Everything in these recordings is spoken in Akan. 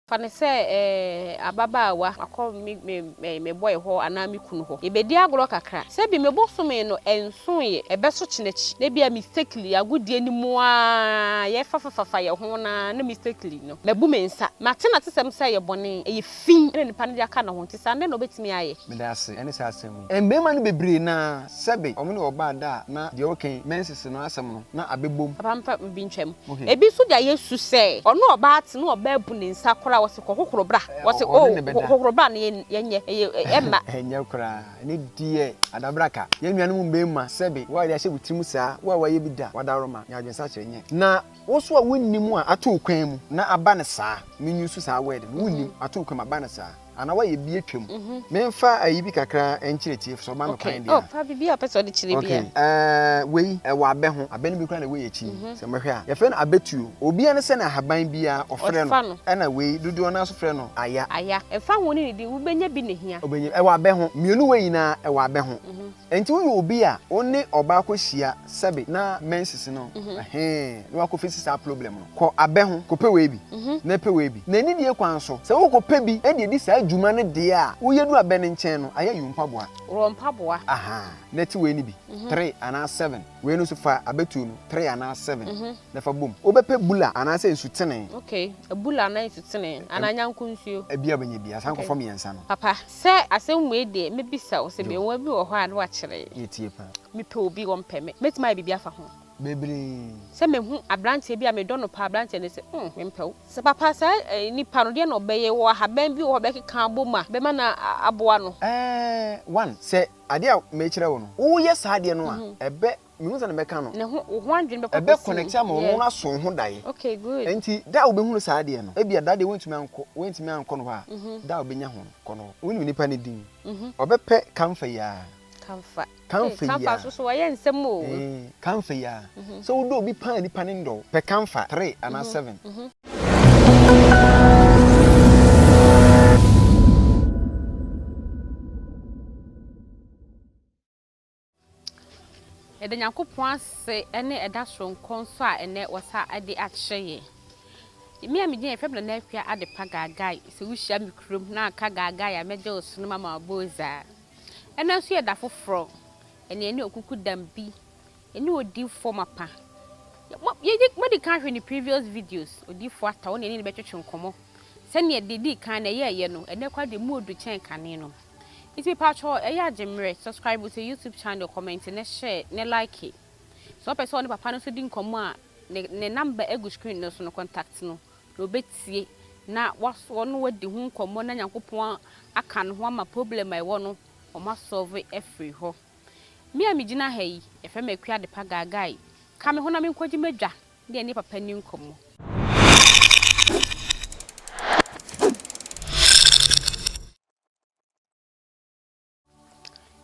Fa no sɛ ababaawa, makɔ me boy hɔ anaa me kunu hɔ. Yɛbɛdi agorɔ kakra. Sɛ bi me bosome no nsoeɛ, ɛbɛso kyena akyi. Na ebia mistakenly, agodie no mu ara yɛfafafafa yɛn ho no ara na mistakenly no, mabu me nsa. Mate n'atesɛm sɛ ɛyɛ bɔne, ɛyɛ fi. fi na nnipa no de aka ne ho, nti saa dɛn na ɔbɛtumi ayɛ? Meda ase ne saa asɛm yi. Mmarima no bebree na sɛbe wɔn ne ɔbaa da a na deɛ ɔrekɛn mɛnsese no asɛm no na abɛbom. Papa mfa bi ntwam. Ebi nso da yɛ su sɛ ɔne ɔbaa te na ɔbaa bu ne nsa koraa ɔse kɔ hohoro bra. Ɔse oh hohoro bra no yɛnyɛ ɛmma. Ɛnyɛ koraa ɛno deɛ adabraka. Yɛn nuanom mmarima sɛbe wo a yɛde ahyɛ wo tirim saa wo a wayɛ bi da wadaworoma nyɛ adwensakyera nyɛ na Wo so a wonnim a ato wo kwan mu na aba no saa, me use saa word no, wonnim, ato wo kwan mu aba no saa, anaa woayɛ bi atwam. Memfa ayi bi kakra nkyerɛ tiefo sɛ ɔma me kwan deɛ a. Okay, oh, fa biribi a wopɛ sɛ ɔde kyerɛ bi a. Okay, eh, wei, ɛwɔ abɛ ho, abɛ no bi koraa na ɛwɔ yɛn akyi yi, sɛ mohwɛ a, yɛfrɛ no abɛtuo. Obiara ne sɛnea ahaban biara ɔfrɛ no, ɛna wei, dodoɔ no ara nso frɛ no aya. Aya, ɛmfa ho ne ne din, wobɛnya bi na ɛhia. Wobɛnya bi, ɛwɔ abɛ ho, mmienu wei nyinaa, ɛwɔ abɛ ho. Enti woyɛ obi a wo ne ɔbaa kɔ hyia sɛbe na menses no ɛhee na wakɔ fesi saa problem no kɔ abɛ ho kɔ pɛ wei bi na pɛ wei bi na anidie kwan so sɛ wokɔ pɛ bi de adi saa dwuma no deɛ a woyɛ du abɛ no nkyɛn no ayɛ you mpaboa Worɔ mpaboa. ahaa na ti wei no bi three anaa seven wei no nso fa abɛ tuo no three anaa seven na fa bom wobɛ pɛ bula anaa sɛ nsutenee. Okay bula anaa nsutenee anaa nyanko nsuo. Bia wobɛ nya bi asan kɔ fɔ miɛnsa no. Papa Sɛ asɛm wei deɛ mɛbisa wo sɛ beawa bi wɔ hɔ a na wakyerɛ. Yɛ tie paa. Mepɛ obi wɔn pɛ me mɛtumi ayɛ biribi afa ho. Bebree. Sɛ mehu abranteɛ bi a medɔ no paa abranteɛ no sɛ mm me mpɛ wo. Sɛ papa saa eh nipa no deɛ na ɔbɛyɛ wɔ ahaban bi wɔ hɔ a bɛkeka abɔ mu a bɛma no aboa no. Ɛɛɛ one sɛ adeɛ a mekyerɛ wo no wo yɛ saa adeɛ no a ɛbɛ. mehu sɛ na mɛka no. Ne ho wo ho adwene bɛkɔ kɔsi. Ɛbɛ connect ama wɔn wɔn aso ho dae. Okay good. Nti da a wobɛhunu saa adeɛ no ebia da deɛ wɔntumi ankɔ wɔntumi ankɔ no hɔ a da a wobɛnya ho kɔ no hɔ wonim nipa no din ɔbɛpɛ kamfa yi ara. Kamfa kamfa yi ara kamfa soso wɔyɛ nsɛm o. Kamfa yi ara sɛ wodɔ obi paa nipa no ndɔ wo pɛ kamfa three anaa seven. Yɛda Nyankopɔn ase ɛne ɛda soronko nso a ɛnɛ wasa de akyerɛ yɛn. Me a medin yɛ Fɛm Nana Afia Adepa Gaagai, sɛ wohyia me kurom na aka Gaagai a mɛgye wo sono mama wo bozaa. Ɛnɛ nso yɛ da foforɔ, ɛne ɛne okuku dam bi, ɛne odifoɔ mapa. Modi kan hwɛ ne previous videos, odifoɔ ata, wo ne ɛne ne bɛtwetwe nkɔmmɔ. Sɛdeɛ deɛ ɛdi kan na ɛyɛɛyɛ no, ɛnɛ kora deɛ mu odu kyɛn kane no. Nti mepaatwɔ ɛyɛ a gye mmerɛ subscribe to YouTube channel, comment ne share ne like. Sɛ ɔpɛ sɛ ɔne papa no nso di nkɔmmɔ a ne ne number ɛgu screen no so no contact no na ɔbɛtie na wasoɔ no wadi ho nkɔmmɔ na Nyankopɔn aka no ho ama problem a ɛwɔ no wɔn asɔve afiri hɔ. Me a me gyina ha yi yɛfrɛ me Akua Adepa Gaagai. Ka me ho na me nkɔgye m'adwa na yɛne papa nni nkɔmmɔ.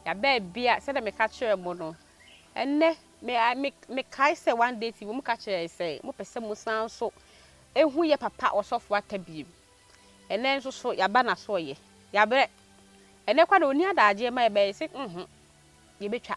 Yɛabɛn bi a sɛdeɛ meka kyerɛɛ mo no, ɛnnɛ me a me mekae sɛ one day TV wɔka kyerɛɛ yɛn sɛ wɔpɛ sɛ mosan nso hu yɛ papa ɔsɔfo Atta bio. Ɛnnɛ nso so yɛaba n'asoɔyɛ. Yɛabrɛ. Ɛnnɛ koraa na ɔnni adagyeɛ ma yɛbɛyɛ sɛ nho yɛbɛtwa.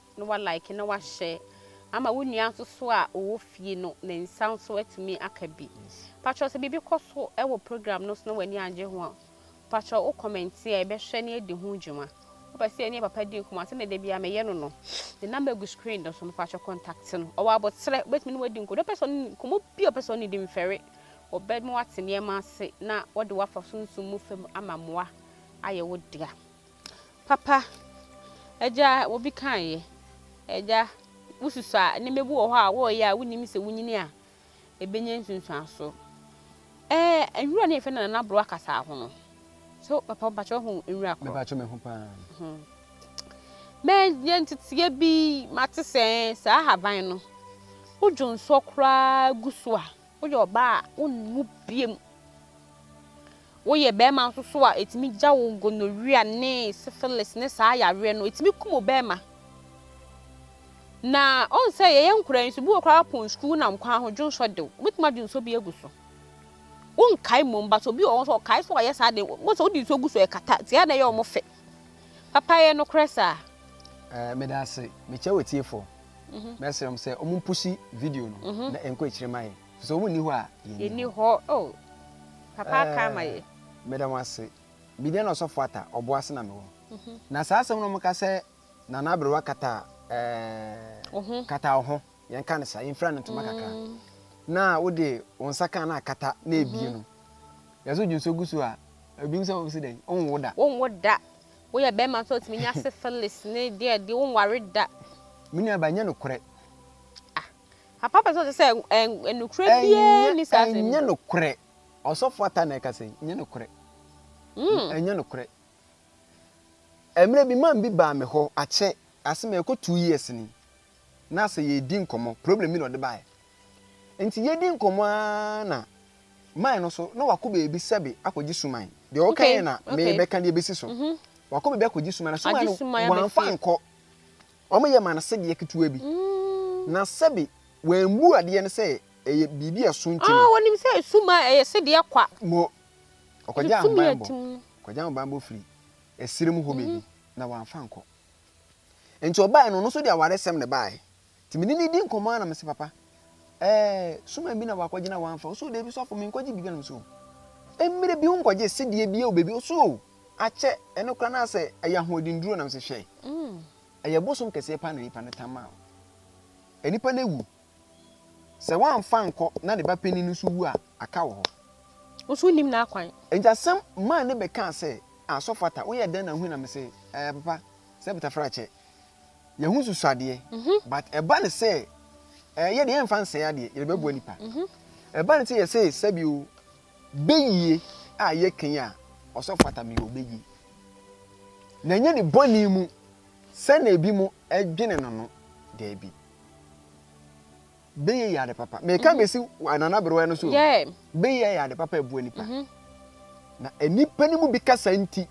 na wa like na wa share ama wo nua nso so a ɔwɔ fie no ne nsa nso atumi aka bi. Patrɔ sɛ biribi kɔ so wɔ program no so na w'ani angye ho a, patrɔ wo comment a yɛbɛhwɛ na yɛadi ho dwuma. Wopɛ sɛ yɛne papa di nkɔmmɔ a sɛdeɛ da biara meyɛ no no, ne number gu screen no so no patrɔ contact no. Ɔwɔ aboterɛ, wobɛtumi ne wadi nkɔmmɔ. Deɛ ɔpɛ sɛ ɔne nkɔmmɔ bi a ɔpɛ sɛ ɔne di mfɛre, ɔbɛma wate nneɛma ase na wɔde wo afa sunsum mu fam ama mmoa ayɛ wo dea. Papa, Agya, obi kaeɛ. Agya, wosusu a, nneɛma bi wɔ hɔ a wɔreyɛ a wonim sɛ wonyini a, ɛbɛnya nsunsuansoɔ. Ɛɛ, nwura no a yɛfrɛ no Nana Borɔwa kasaa ho no, so papa mpakyɛ wohu nwura korɔ? Mepakyɛ me ho paa. Hmm. Mɛyɛ nteteɛ bi, mate sɛ saa ahaban no, wodwo nsoɔ koraa gu so a, Woyɛ ɔbaa a, wonwu bio. Woyɛ barima nso so a, ɛtumi gya wo gonorrhea ne syphilis ne saa yareɛ no, ɛtumi kum ɔbarima. Na ɔn sɛ yɛyɛ nkwadaa nso, bi wɔ koraa pɔn sukuu nam kwan ho dwonsɔ dew, wobɛtumi adwe nsuo bi agu so. Wonkae mmom, but obi wɔ hɔ nso ɔkae sɛ ɔyɛ saa de, wobɛhu sɛ wode nsuo gu so ɛkata, nti ɛyɛ a na ɛyɛ wɔn fɛ. Papa yɛ nokorɛ saa. Ɛɛ, meda ase. Mekyia w'atiefoɔ. Mhm. Mɛsrɛ wɔn sɛ wɔn mpusi video no mhm. na ɛnkɔ akyire ma yɛn. Sɛ wɔn nni hɔ a yɛn ni hɔ. Oh, papa eh, aka ama yɛ. Meda wɔn ase. Bidia na ɔsɔfo ata ɔbo ase na mewɔ. Mhm. Na saa asɛm no wɔka sɛ nana aberewa kata ɛɛ eh, kata ɔho yɛn ka ne saa yɛn fira ne ntoma kakra mm. na wode wɔn nsa kan na akata na ebie no yɛsɛ odwonso gu so a ebi nso wɔn si dɛ wɔn wo da. wɔn wo da. Woyɛ bɛɛma nso a otumi nya syphilis ne deɛ deɛ wonware da. Me nua ba ɛnyɛ nokorɛ. Ah papa pɛ sɛ ɔsɛ sɛ ɛ nokorɛ biaa nni saa asɛm yi mu. Ɛnyɛ nokorɛ ɔsɔfo ata na ɛkasa yi ɛnyɛ nokorɛ. Mm. Ɛnyɛ nokorɛ. Ɛmmerɛ bi man bi baa me hɔ akyɛ ase mɛkɔ two years ni na sɛ yɛredi nkɔmmɔ, problem bi na ɔde baeɛ. Nti yɛdi nkɔmmɔ ara na man no so, na wakɔ baabi sɛbe akɔgye suman. Deɛ ɔka yɛ na mebɛka deɛ ɛbɛsi so. Mhm. Wakɔ baabi akɔgye suman, na suman no wamfa nkɔ. Wɔn yɛ ma no sedeɛ ketewa bi. Mm. Na sɛbe wɔammu adeɛ no sɛ ɛyɛ biribi a ɛso nti no. Ah, wɔnim sɛ suman ɛyɛ sedeɛ kwa. Mo, ɔkɔgye ahobanbɔ. Ɔkɔgye ahobanbɔ firi ɛsiri mu hɔ baabi, mhm. na wamfa nkɔ. Nti ɔbaeɛ no ɔno nso de awaresɛm na ɛbaeɛ. Nti me ne no redi nkɔmmɔ ara na mese papa ɛɛ suman bi na wakɔgyina wamfa. Ɔse o daabi sɔfo menkɔgye biribi a na mese o. Mmerɛ bi wonkɔgye sedeɛ bi o baabi ɔse o akyɛ ɛno koraa na sɛ ɛyɛ ahoɔden nnuro na mese hwɛ ɛyɛ bosom kɛseɛ paa na nipa no tam maa wo. Nipa no awu Sɛ wamfa ankɔ na ne ba panyin no nso wu a, aka wɔ hɔ. Wo nso wunnim n'akwan. Enti asɛm maa ne bɛ kaa sɛ, Ah, Sɔfo Atta, woyɛɛ dɛn na hui na mese, Ɛɛ, Papa, sɛ btafra kyɛ, yɛahu nsusuadeɛ, but ɛba ne sɛ, ɛɛ, yɛ deɛ yɛmfa nsɛe adeɛ, yɛrebɛboa nnipa. Ɛba ne sɛ yɛse, sɛbi o, bɛyie a yɛka yi a, Ɔsɔfo Atta, meyɛ ɔbɛyie. Na ɛnyɛ ne bɔne mu sɛnea ebinom dwene no no, daabi. Beyɛ yɛ ade papa. Meka mm-hmm. besi Nana Berewa no so. Yeah. Beyɛ yɛ ade papa ɛboa nipa. Mm-hmm. Na nipa no mu bi kasa nti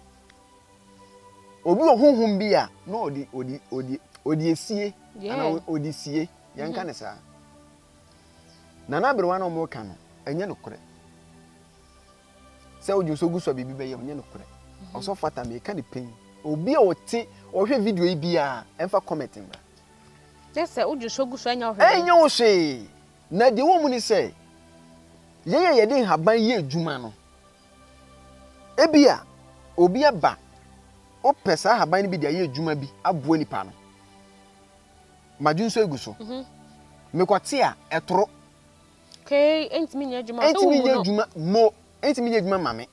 obi wɔ honhom bi a na ɔde ɔde ɔde ɔde esie ana ɔde sie yɛn nka mm-hmm. ne saa. Nana Berewa na wɔn ka no ɛnyɛ no korɛ. Sɛ odwo so gu so a biribi bɛyɛ ɔnyɛ no korɛ. Ɔsɔ fata mi ɛka ne pɛn. Obi a ɔte ɔhwɛ video yi biara ɛnfa comment mbra. Gye sɛ wode nsuo gu so a ɛnyɛ wo hwee. Ɛnyɛ wo hwee. Na deɛ ɛwɔ mu ne sɛ, yɛn a yɛde nhaban yɛ adwuma no, ebia obi aba, wopɛ saa nhaban no bi de ayɛ adwuma bi aboa nipa no. Madwene nso agu so. Mhm. Mekɔte a, ɛtoro. Kei ntumi nyɛ adwuma. Ntumi nyɛ adwuma mo. ɛntumi nyɛ adwuma mma me.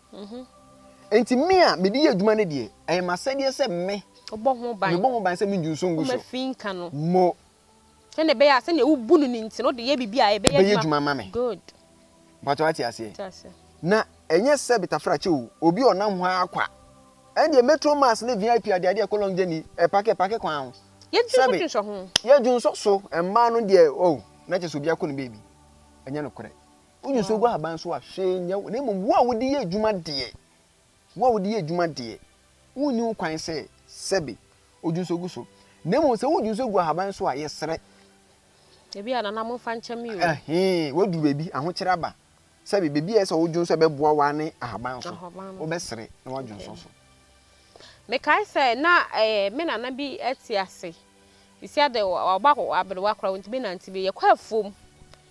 Enti me a mede yɛ adwuma no deɛ, ɛyɛ m'asɛdeɛ sɛ me, mebɔ ho ban sɛ mengu nso ngu so. Mo. Sɛdeɛ ɛbɛyɛ a sɛdeɛ wobu no no nti no, wode yɛ biribi a ɛbɛyɛ adwuma. Ɛbɛyɛ adwuma ama me. Good. Mpakyɛ wate aseɛ? Na ɛnyɛ sɛ betafrakye o, obi a ɔnam hɔ ara kwa. Ɛndeɛ Metro Mass ne VIP adeadeɛ a ɛkɔ Long Journey, ɛpake ɛpake kwan ho. Yɛdwonsɔ ho. Yɛdwonsɔ so, mmaa no deɛ oh, na kyerɛ sɛ obiara kɔ ne baabi. Ɛnyɛ nokorɛ. Wogye so gu ahaban so a, hwee nyɛ wo. Na mmom wo a wode yɛ adwuma deɛ, wo a wode yɛ adwuma deɛ, wonni ho kwan sɛ sɛbe wodwo nso gu so. Na mmom sɛ wodwo nso gu ahaban so a, yɛsrɛ. Ebia nana momfa nkyɛ me o. Ɛhee, woaduru baabi, ahokyere aba. Sɛbe baabi a ɛyɛ sɛ wodwo nso a ɛbɛboa wo ara ne ahaban so. Wobɛsrɛ na woadwo nso so. Mekae sɛ na me nana bi te ase. Sisi ade, wabɔ aberewa koraa, ɔntumi nnante bio. Yɛkɔ afuom.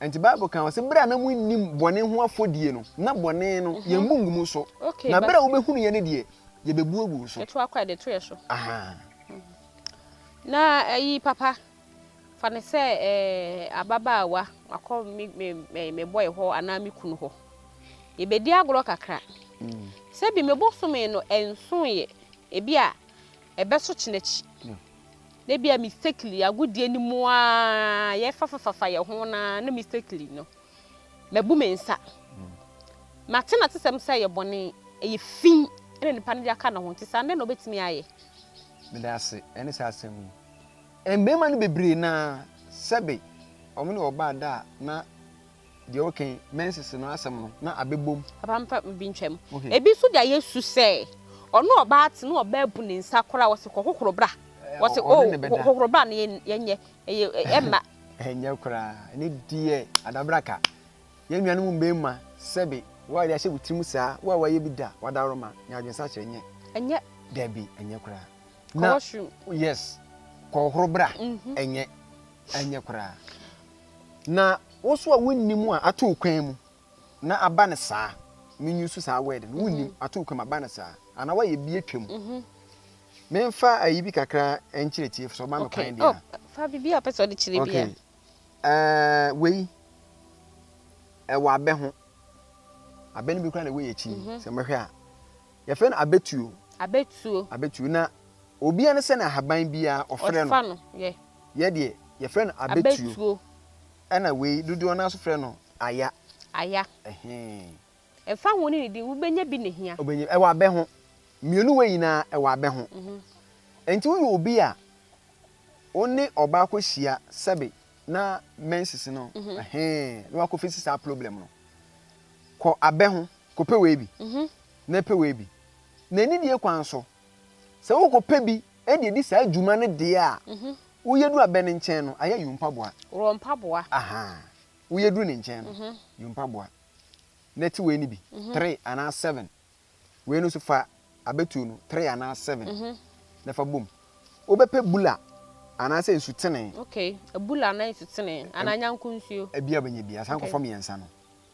Enti Bible ka ho sɛ bere a na munnim bɔne ho afɔdie no, na bɔne no, yɛmmu ngu mo so, na bere a wobehunuiɛ no deɛ, yɛbɛbu agu wo so. Yɛtoa kɔ a, yɛde to yɛn so. Ahaa. Na ayi, papa, fa no sɛ ababaawa, wakɔ me boy hɔ anaa me kunu hɔ. Yɛbɛdi agorɔ kakra. Sɛ bi me bosome no ɛnsoeɛ, ebia Ɛbɛso kyena akyi, na ebia mistakenly, agodie no mu ara yɛrefafafafa yɛn ho no ara na mistakenly no, mabu me nsa. Mate n'atesɛm sɛ ɛyɛ bɔne, ɛyɛ fi na nipa no de aka ne ho, nti saa dɛn na obetumi ayɛ? Meda ase ne saa asɛm yi. Mmarima no bebree no ara, sɛbe wɔne ɔbaa da a, na Deɛ ɔka yi, mensese no asɛm no, na abɛbom. Papa mfa bi ntwa mu. Ebi nso da yɛ su sɛ, ɔne ɔbaa te na ɔbaa bu ne nsa koraa, ɔse kɔ hohoro bra. Ɔse oh, hohoro bra no yɛnyɛ, ɛmma. Ɛnyɛ koraa, ɛno deɛ adabraka. Yɛn nuanom mmarima, sɛbe woayɛ ahyɛ wo tirim saa, wo a woayɛ bi da, w'adaworoma, nya adwensakyera, ɛnyɛ. Ɛnyɛ. Dabi, ɛnyɛ koraa. Kɔ washroom. Yes, kɔ hohoro bra, ɛnyɛ, ɛnyɛ koraa. Na wo so a wonnim a ato wo kwan mu na aba no saa me use saa word no wonnim mhm. ato wo kwan mu aba no saa anaa woayɛ bi atwa mu mhm. memfa ayi bi kakra nkyerɛ tiefo sɛ ɔma me kwan deɛ oh, fa biribi a wopɛ sɛ ɔde kyerɛ bia eh, wei ɛwɔ abɛ ho abɛ no bi kora na ɛwɔ yɛ akyi mhm. sɛ mɛhwɛ a Yɛfrɛ no abɛtuo. Abɛtuo. Abɛtuo na obia no sɛne ahaban biaa ɔfrɛ no. Ɔfa no yɛ. Yɛ deɛ yɛfrɛ no abɛtuo. Abɛtuo. Ɛna wei dodoɔ no ara nso frɛ no aya. Aya. Ɛhee. Ɛmfa ho ne ne din wobɛnya bi na ɛhia. Wobɛnya ɛwɔ abɛ ho. Mmienu wei nyinaa ɛwɔ abɛ ho. Ɛnti woyɛ obi a wo ne ɔbaa akɔ hyia sɛbe na menses no ɛhee na wakɔ fesi saa problem no kɔ abɛ ho kɔpɛ wei bi. na ɛpɛwee bi, na anidie kwan so, sɛ wokɔpɛ bi de adi saa dwuma no deɛ a, woyɛ duru abɛ no nkyɛn no, ayɛ yo mpaboa. Wɔ mpaboa. Ahaa. Woyɛ duru ne nkyɛn no, yo mpaboa. Na te wei no bi, three anaa seven. Wei no nso fa abɛtuo no, three anaa seven, na fa bom. Wobɛpɛ bula anaasɛ nsutene. Okay. Bula anaa nsutene, anaa nyanko nsuo. Bia wobɛnya bi, asan kɔfa mmiɛnsa no.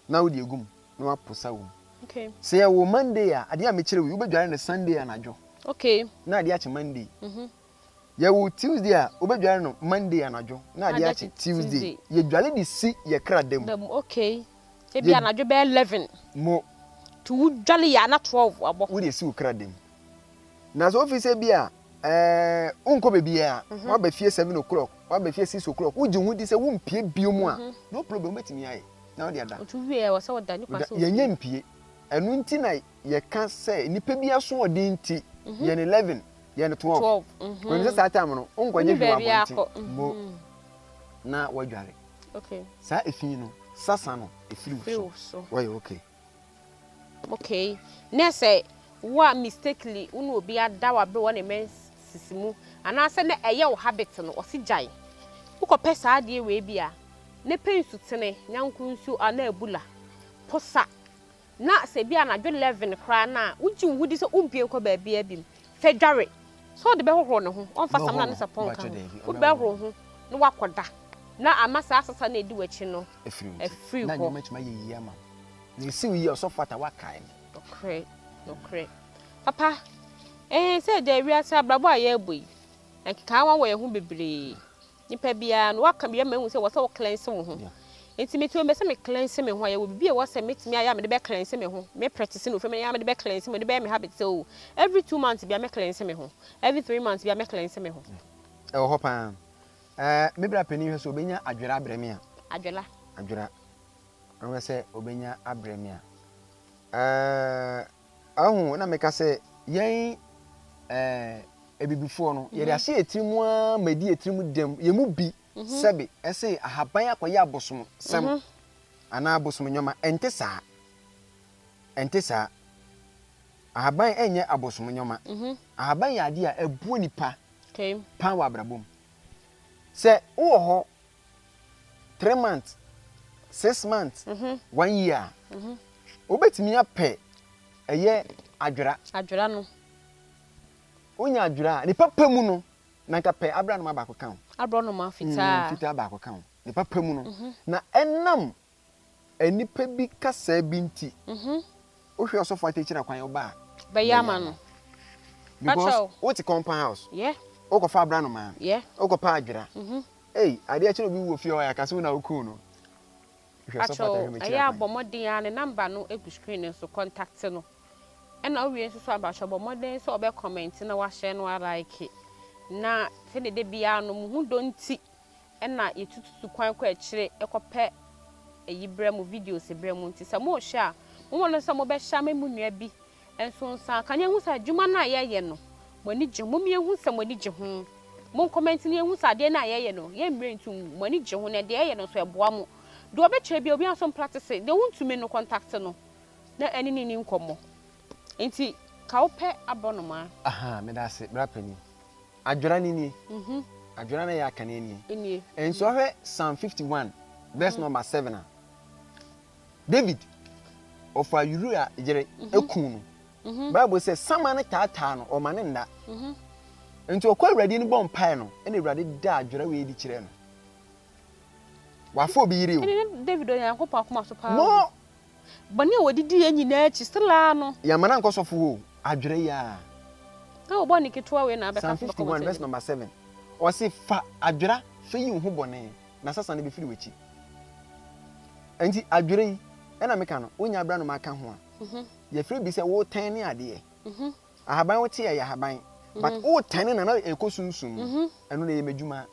na wode agu mu na waposa wɔ mu. Okay. Sɛ yɛwɔ Monday a, adeɛ a mekyerɛ wo yi, wobɛdware no Sunday anadwo. Okay. Na adeɛ akye Monday. Mm -hmm. Yɛwɔ Tuesday a, wobɛdware no Monday anadwo na adeɛ akye Tuesday. Yɛdware de si yɛ kra da mu. Okay. Ebi anadwo bɛyɛ eleven. Mo. To wodware yɛ ana twelve abɔ. Wode si wo kra da mu. Na sɛ wofi sɛ bi a ɛɛ wonkɔ baabi a mhm. woaba fie seven o'clock woaba fie six o'clock wogye ho di sɛ wompie bio mu a mhm. no problem wobɛtumi ayɛ. na wode ada. Otu wie a, ɛwɔ sɛ ɔda nnipa sɛ ompue. Yɛnyɛ mpue. Ɛno nti na yɛka sɛ nnipa bi asoɔden nti, yɛn 11, yɛn 12. Wonim sɛ saa tam no, wonkɔgye hwee wɔ abɔnten mmo na woadware. Saa efi no, sasa no firi wo so. Woayɛ okay. Okay nɛ sɛ wo a mistakenly wo ne obi ada wa bere wɔ ne menses mu anaasɛ na ɛyɛ wo habit no ɔse gyae wo kɔ pɛ saa adeɛ wei bi a ne pɛ nsutene nyanko nsuo anaa abula posa na sɛ bi anadwo 11 koraa no a wo gye wo ho di sɛ wo mpue nkɔ baabiaa bim fɛ dware sɛ ɔde bɛ hohoro ne ho ɔmfa samina ne sapɔn nka ho wode bɛ hohoro ho na wakɔ da na ama saa asesa no edi wakyi no. afiri wo ti, na ɛnneɛ mɛtumi ayɛ yie ama wo. Na ɛsi wo yie a, ɔsɔfo ata woakae me. Nokorɛ, nokorɛ. Papa, ee, sɛ ɛda wiase abrabɔ a yɛrebɔ yi, nkekaawa wɔ yɛn ho bebree. Nipa biara no, woaka bi ama mahu sɛ ɛwɔ sɛ wo cleanse wo ho. Nti mete obi sɛ me cleanse me ho a, yɛwɔ biribi a ɛwɔ sɛ mɛtumi ayɛ a mede bɛ cleanse me ho. Me practice no fam, ɛyɛ a mede bɛ cleanse me ho, ɛde bɛyɛ me habit sɛ o, every two months biara mɛ cleanse me ho, every three months biara mɛ cleanse me ho. Ɛwɔ hɔ paa. Ɛɛ, me bra panin hwɛ sɛ obenya adwera abrɛ me a. Adwera. Adwera. Ɔhwɛ sɛ obenya abrɛ me a. Ɛɛ, ɔho na meka sɛ yɛn ɛɛ abibifoɔ no yɛde ahyɛ yɛn tirim ara ma ɛdi yɛn tirim dɛm yɛn mu bi sɛbe ɛsɛ ahaban akɔyɛ abosom sɛm anaa abosom nneɛma ɛnte saa ɛnte saa ahaban ɛnyɛ abosom nneɛma ahaban yɛ adeɛ a ɛboɔ nipa paa wɔ abrabɔ mu. Sɛ wowɔ hɔ three months, six months, one year a, wobɛtumi apɛ ɛyɛ adwera. Adwera no. Wonya adwera a, ne papa mu no, na nka pɛ aborɔnoma baako ka ho. Aborɔnoma fitaa. Fitaa baako ka ho, ne papa mu no. Na ɛnam Nnipa bi kasaa bi nti wohwɛ ɔsɔfo akyirikyiri na kwan ɔba a bɛyɛ ama no because wote compound house wokɔfa abra nomaa wokɔpa adwera ei adeɛ akyi na obi wɔ fie hɔ yɛaka sɛ wo na wokum no hwɛ ɔsɔfo atahwɛ mekyerɛ ɛyɛ abɔ mmɔden a ne namba no egu screen no so contact no ɛna wowie nso so abahyɛ bɔ mmɔden sɛ ɔbɛ comment na wahyɛ no alike na sɛdeɛ da biara no mo ho dɔ nti na yetututu kwan kɔ akyire kɔpɛ ayi brɛ mo, videos brɛ mo. Nti sɛ morehwɛ a, mommɔ mmɔden sɛ mobɛhyɛ ama mo nua bi nso nsa aka na yɛahu sɛ adwuma no a yɛreyɛ no, mo ani gye ho. Momma yɛnhu sɛ mo ani gye ho. Monkɔmɛnte na yɛnhu sɛ adeɛ no a yɛreyɛ no, yɛmmire nto mu. Mo ani gye ho na deɛ yɛreyɛ no nso, ɛboa mo. Deɛ ɔbɛkyerɛ biara, obiara nso mpractice. Deɛ wontumi no, kɔntakte no na ɛne no nni nkɔmmɔ. Nti ka wopɛ abɔnomaa. Ahaa, meda ase, bra panin. Adwera no nie. Adwera no a ɛyɛ akane nie. Nso wohwɛ Psalm 51 verse number seven a, David ɔfa Uria yere ekum no. Mm-hmm. bible sɛ sama no taataa no ɔma ne nna mm-hmm. nti ɔkɔ awurade no bɔ mpae no ɛna awurade da adwerɛ wei di kyerɛ no wafo obi yiri o david onyankopɔn akoma so paa Bɔne a wɔde diiɛ nyinaa akyi, selaa no. Yɛamma no ankɔ sɔfo hɔ o, adwerɛ yi ara. Sɛ wo bɔne ketewa wei na abɛka so bɛkɔ wɔn anim. Psalm 51 vs number seven, Ɔse, Fa adwera, fa yi wo ho bɔne, na sasa no bɛfiri w'akyi. Ɛnti adwerɛ yi, ɛna meka no, wonya berɛ a na maka ho a, yɛfrɛ bi sɛ wotɛne adeɛ. Ahaban wote a, ɛyɛ ahaban, but wotɛne no a na ɛkɔ sum sum mu, ɛno na ɛyɛ m'adwuma.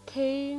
Okay.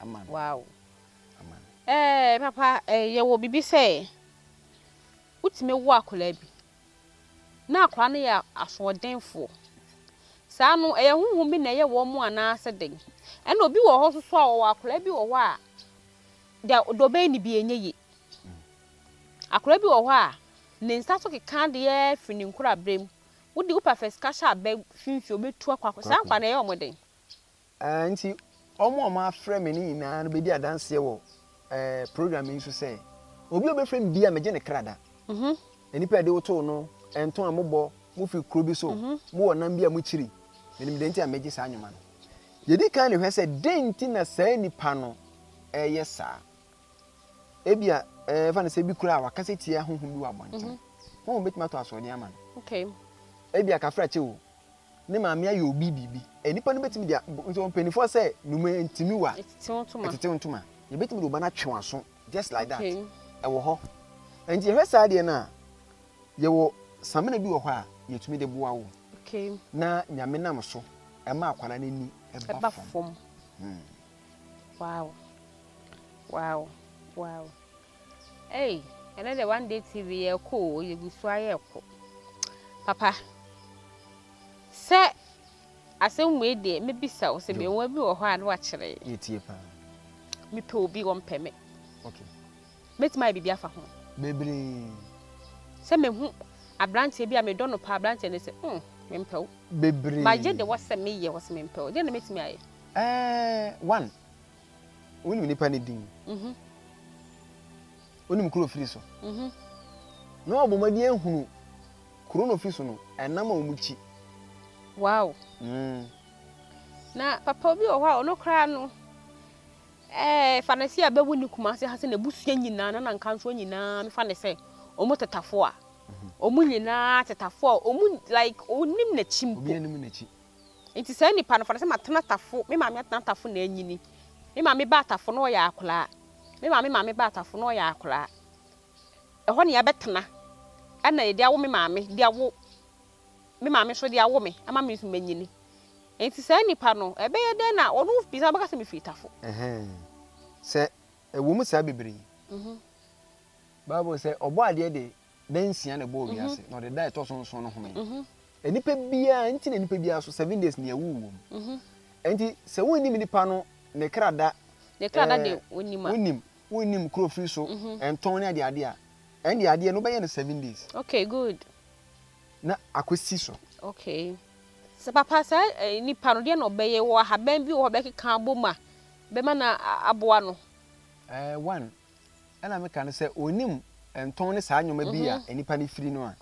ama no. Wow. Ama no. Eh, papa, eh, yɛwɔ biribi sɛ wotumi wo akwadaa bi na akwadaa no yɛ asoɔdenfoɔ. Saa no, ɛyɛ honhom bi na ɛyɛ wɔn mu anaasɛ dɛn? Ɛna obi wɔ hɔ nso so a wɔwɔ akwadaa bi wɔ hɔ a deɛ deɛ ɔbɛyɛ no bi ɛnyɛ yie. Akwadaa bi wɔ hɔ a ne nsa so keka adeɛ firi ne nkorabere mu. Wode wopɛ fɛ sika hyɛ abɛ finfin obetu akɔ akɔ. Saa nkwadaa no ɛyɛ wɔn dɛn? Enti wɔn a wɔafrɛ me no nyinaa bedi adanseɛ wɔ program yi so sɛ, Obi a ɔbɛfrɛ me biara, megye ne kra da. Nnipa a ɛde wo too no, ɛnto a mobɔ, mofi kuro bi so, mowɔ nam bi a mokyiri, menim deɛ nti a megye saa nnwoma no. Yɛdi kan de hwɛ sɛ dɛn nti na saa nnipa no reyɛ saa. Ebia ɛfa no sɛ bi koraa wakasa tia honhom bi wɔ abɔnten. Honhom bɛtumi ato asoɔden ama no. Ebia kafra kyɛ o. ne maame ayɛ obi biribi. Nnipa no betumi de nso mpanimfoɔ sɛ nnomaa ntiniwa ɛtetew ntoma. Yɛbetumi de wo ba no atwe w'aso just like that. Ɛwɔ hɔ. Nti yɛhwɛ saa adeɛ no a, yɛwɔ samina bi wɔ hɔ a yɛtumi de boa wo na Nyame nam so ɛma akwadaa no ani ɛba fam. Wow. Wow. Wow. Ei ɛnɛ deɛ one day TV yɛ ɛkɔ o yɛgu so ayɛ ɛkɔ papa sɛ asɛm wei deɛ mɛbisa wo sɛ mmeawa bi wɔ hɔ a na wakyerɛ yɛtie paa mepɛ obi wɔmpɛ me okay mɛtumi ayɛ biribi afa ho bebree sɛ mehu aberanteɛ bi a medɔ no paa aberanteɛ no sɛ mm mempɛ wo bebree magye de wɔ sɛ meyɛ wɔ sɛ mempɛ wo deɛ na mɛtumi ayɛ ɛɛ one Wonim nipa ne din. Mhm. Wonim kuro ofiri so. Mhm. Na wɔabɔ wɔn adi ahunu kuro na ofiri so no ɛnam a wɔn kyi. Wow. Mm. Na papa obi wɔ hɔ a ɔno koraa no ɛɛ fa ne se a bɛwo ne kuma ase ha sɛ n'abusua nyinaa na nankanfoɔ nyinaa no fa ne sɛ wɔn tetafo a wɔn mhm. nyinaa tetafo a wɔn like onim n'akyi mpo. Obi anim n'akyi. Nti saa nipa no fa no sɛ matena tafo, me maame atena tafo na anyini. Me maame baa tafo na ɔyɛ akoraa. Me maame maame baa tafo na ɔyɛ akoraa. Ɛhɔ na yɛabɛtena. Ɛna yɛde awo me maame de awo me maame nso de awo me ama me nso manyini. Nti saa nipa no ɛbɛyɛ dɛn na ɔno bisa ɔbɛka sɛ mefiri tafo. Ɛhɛn. Sɛ ɛwɔ mu saa bebree. Bible sɛ ɔbɔadeɛ de da nsia na ɛbɔɔ mhm. wiase na ɔde da ɛtɔ so nson no home mhm. nnipa biara nti na nnipa biara so seven days nea ɛwu wɔ mu mhm. nti sɛ wonnim nipa no ne kra da ne kra da eh, de wonim a wonim wonim kuro firi so ntɔn ne adeɛ adeɛ a ɛnde adeɛ no bɛyɛ no seven days okay good na akɔsi so okay sɛ papa saa eh, nipa no deɛ na ɔbɛyɛ wɔ ahaban bi wɔ hɔ bɛkeka abɔ mu a bɛma no aboa no eh, one Ɛna meka no sɛ onim ntɔn ne saa nneɛma bi a nnipa no firi no a,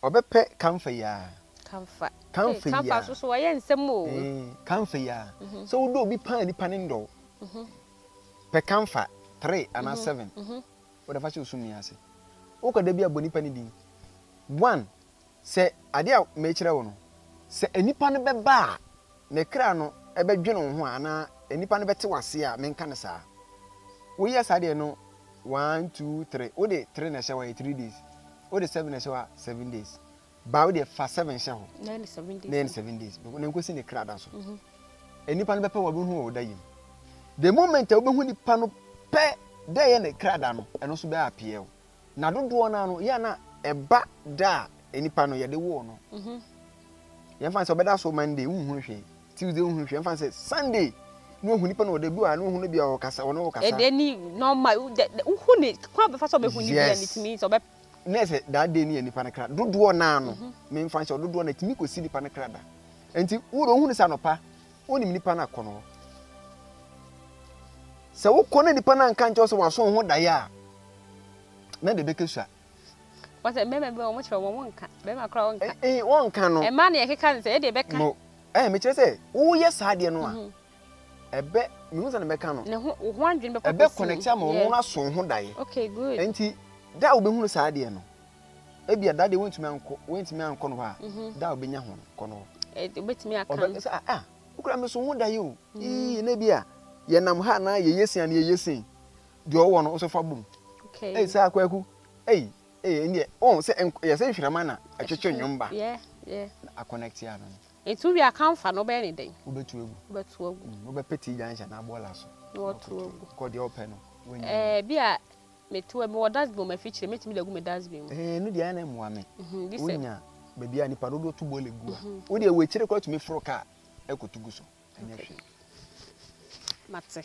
ɔbɛpɛ kamfa yi ara. Kamfa. Kamfa yi ara. Kamfa nso so wɔyɛ nsɛm o. Kamfa yi ara. Sɛ wodɔ obi paa nipa ne ndɔ wo. Pɛ kamfa three anaa seven. Wode fa hyɛ osum ni ase. Wokɔ da bi a bɔ nipa ne din. One. Sɛ ade a merekyerɛ wo no, sɛ nnipa no bɛba a, ne kra no bɛdwene wo ho a, anaa nnipa no bɛte wo ase a, menka no saa. Woyɛ saa deɛ no one, two, three, wode three na ɛhyɛ hɔ a, ɛyɛ three days, wode seven na ɛhyɛ hɔ a, seven days, baa wo deɛ fa seven hyɛ hɔ, na ɛyɛ ne seven days, na nkosi ne kra da so. Mhm. Nnipa no bɛpɛ wɔn abɛhu wɔ ɔda yim. The moment a wobɛhu nipa no pɛ dɛ ɛyɛ ne kra da no, ɛno nso bɛyɛ apeɛ o. Na dodoɔ no ara no, yɛ a na ɛba da a nipa no yɛde woo no. Mhm. Yɛmfa no sɛ ɔbɛda so Monday, wonhunu hwee. Tuesday, wonhunu hwee. Yɛmfa no sɛ Sunday, na wahu nipa no wɔ da bi wɔ ha, na wahu no bi a ɔkasa, ɔne wo kasa. Ɛdeɛ ni normal, wo- dɛ- dɛ- wohu ne kwan a ɔbɛfa so a ɔbɛhu ne bi a Yes. ne tumi sɛ ɔbɛ na ɛsɛ that day ne yɛ nipa no kra dodoɔ naa no memfa nhyɛ wo, dodoɔ no ɛtumi kɔsi nipa no kra da nti wode wohu no sɛ anɔpa wonim nipa no akɔ no hɔ sɛ wokɔ na nipa no anka nkyɛw sɛ waso wo ho daeɛ a na de bɛkɛ sua. Wɔ sɛ mmarima bi wɔn kyerɛ wɔn wɔn nka barima kora wɔn nka. Ee wɔn nka no. Mmaa na yɛkeka ne sɛ yɛde bɛka. No ɛɛ mekyerɛ sɛ woyɛ saa adeɛ no a mhm. ɛbɛ mehu sɛ na bɛka no. Ne ho wo ho adwene bɛkɔ ɛbɛ connect ama wɔn wɔn aso ho daeɛ. Okay good. Nti da a wobɛhunu saa adeɛ no ebi ɛda deɛ wɔntumi ankɔ wɔntumi ankɔ no hɔ a mhm. da a wobɛnya ho kɔ no hɔ. Ɛɛ wobɛtumi aka no. Ɔbɛ sɛ ah, ah wokura me so ho daeɛ o. Mhm. Ii na ebi a yɛnam ha na yɛyɛ sin a na yɛyɛ sin. deɛ ɔwɔ no nso fa bom ɛyi sɛ akwaku ɛyi ɛyi ɛni deɛ ɔn sɛ yɛ sɛ nhwirama na ɛtwetwe nnwom ba na akɔnɛkte ano no. etu wi akanfa no bɛyɛ ne dɛn. wobɛtu agu wobɛtu agu mm, wobɛpɛ tii gyanhyɛ na aboɔ la so na wɔtu agu kɔ deɛ ɔpɛ no wɔnyɛ ɛɛ bi a metu ɛmi wɔ dustbin mu afikyire metumi de agu mi dustbin mu. ɛɛ no deɛ ɛna mmoa mi mhm, wonya baabi a nipa dodoɔ tu bɔ le gu a mhm. wo deɛ wɔ akyire kɔ atumi foro kaa ɛkɔtu gu so ɛnyɛ hwee. mate.